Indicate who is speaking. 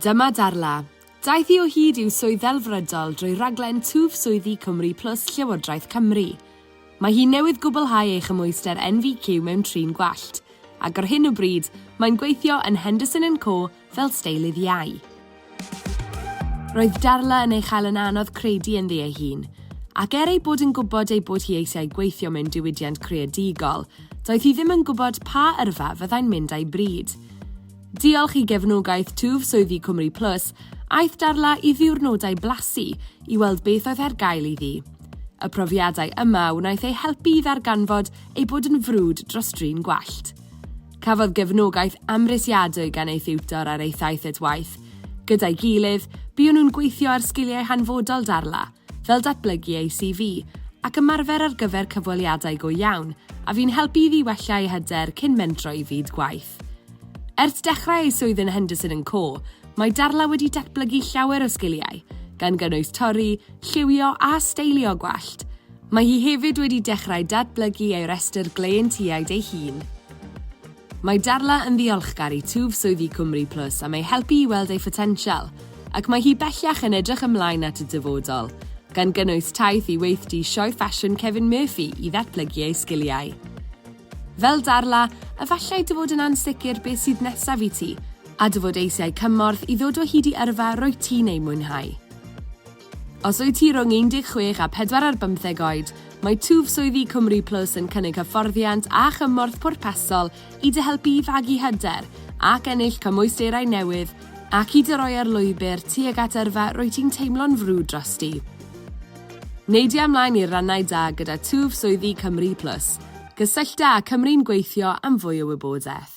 Speaker 1: Dyma Darla. Daeth hi o hyd i'w swydd ddelfrydol drwy raglen Twf Swyddi Cymru Plus Llywodraeth Cymru. Mae hi newydd gwblhau ei chymhwyster NVQ mewn trin gwallt, ac ar hyn o bryd, mae'n gweithio yn Henderson and Co fel steilydd iau. Roedd Darla yn ei chael yn anodd credu ynddi ei hun, ac er ei bod yn gwybod ei bod hi eisiau gweithio mewn diwydiant creadigol, doedd hi ddim yn gwybod pa yrfa fyddai'n mynd â'i bryd. Diolch i gefnogaeth twf swyddi Cymru Plus, aeth Darla i ddiwrnodau blasu i weld beth oedd ar gael iddi. Y profiadau yma wnaeth ei helpu i ddarganfod ei bod yn frwd dros drin gwallt. Cafodd gefnogaeth amhrisiadwy gan ei thiwtor ar ei thaith at waith. Gyda'i gilydd, buon nhw'n gweithio ar sgiliau hanfodol Darla, fel datblygu ei CV, ac ymarfer ar gyfer cyfweliadau go iawn, a fu'n helpu iddi wella ei hyder cyn mentro i fyd gwaith. Ers dechrau ei swydd yn Henderson and Co, mae Darla wedi datblygu llawer o sgiliau, gan gynnwys torri, lliwio a steilio gwallt. Mae hi hefyd wedi dechrau datblygu ei restr gleientiaid ei hun. Mae Darla yn ddiolchgar i twf swyddi Cwmri Plus am ei helpu i weld ei photensial, ac mae hi bellach yn edrych ymlaen at y dyfodol, gan gynnwys taith i weithdy Sioe Ffasiwn Kevin Murphy i ddatblygu ei sgiliau. Fel Darla, efallai dy fod yn ansicr beth sydd nesaf i ti, a dy fod eisiau cymorth i ddod o hyd i yrfa rwyt ti'n ei mwynhau. Os wyt ti rhwng 16 a 4 ar bymtheg oed, mae twf swyddi Cymru Plus yn cynnig hyfforddiant a chymorth pwrpasol i dy helpu i fagu hyder ac ennill cymwysterau newydd ac i dy roi ar lwybr tuag at yrfa rwyt ti'n teimlo'n frwd drosti. Neidia ymlaen i'r rannau da gyda twf swyddi Cymru Plus. Gysyllta â Cymru'n Gweithio am fwy o wybodaeth.